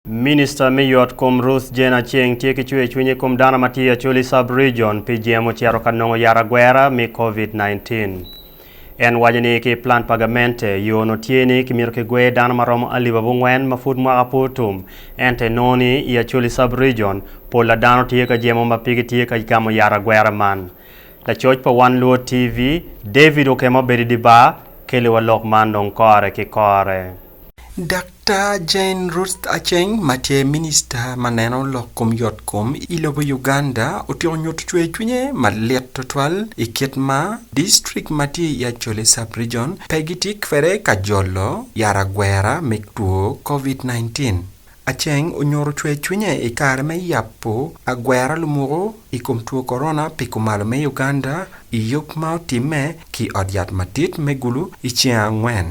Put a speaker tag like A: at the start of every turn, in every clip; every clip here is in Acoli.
A: Minista me yot kom Ruth Jane Aceng tye ki cwer cwiny i kom dano ma tye i Acholi Sub Region pi jemo ocito ka nongo yat agwera me Covid 19. En waco ni ki plan pa gamente, yo onongo tye ni kimito kigwer dano ma romo alip abongwen ma pud mwaka pe otum ento enongo ni i Acholi Sub Region pol a dano tye ka jemo ma pe gitye ka gamo yat agwera man. Lacoc pa One Luo TV, David Okema obedo i di bar, keliwa lok man dong kore ki kore. Daktar
B: Jane Ruth Aceng ma tye Minista ma neno lok kom yot kom i lobo Uganda otyeko nyutu cwer cwinye malit twatwal i kit ma Distrik ma tye i Acholi Sub-Rijon pe gitye kwede ka jolo yat agwera me two Covid 19. Aceng onyutu cwer cwinye i kare me yabu agwera lumuku i kom two Korona pi kumalo me Uganda i yub ma otimme ki ot yat madit me Gulu i cinge angwen.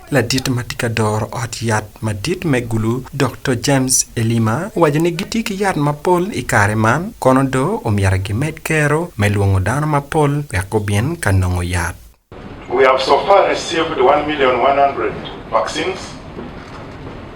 C: Ladit
B: ma tye ka doro ot yat madit me Gulu, Dokto James Elima, owaco ni gitye ki yat mapol i kare man, kono do omyero gimed kero me lwongo dano mapol wek gubin ka nongo yat. We have so
D: far received one million one hundred vaccines.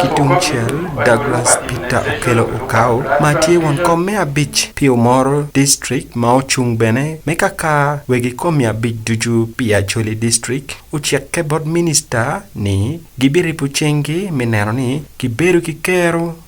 D: Ki tung
B: cel, Douglas Peter Okello Okau ma tye won kom me abic pi Omoro District ma ocung bene me kaka wegi kom abic ducu pi Acholi District ocikke bot Minista ni gibiripo cinggi me neno ni gibedo ki kero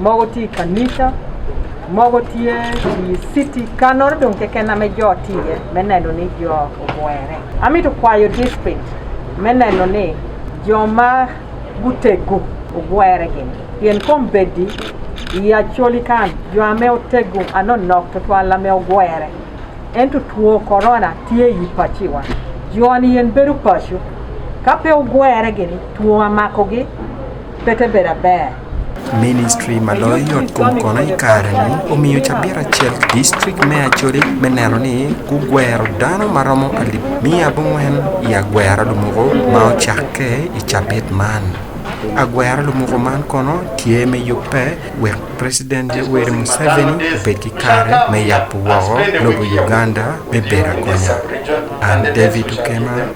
E: mogo tye i kanica, mogo tye i citi kano-ri dong keken ma jo tye iye me neno ni jo ogwere. Amito kwayo district me neno ni jo ma gutegu ogwere gini pien kombeddi i Acholi kan jo ame otegu anonok twatwal ame ogwere ento two korona tye i paciwa jo-ni yen bedo paco ka pe ogwere gini two mamakogi pe te bedo aber.
B: Ministri ma loyo yotkom kono i kare-ni omiyo cabit acel ki distrik me Acholi me neno ni gugwero dano ma romo alip miya abongwen i agwera lumuku ma ocakke i cabit man. Agwera lumuku man kono tye me yubbe wek President Yoweri Museveni obed ki kare me yabo woko lobo Uganda me bedo agonya. An David Okema pi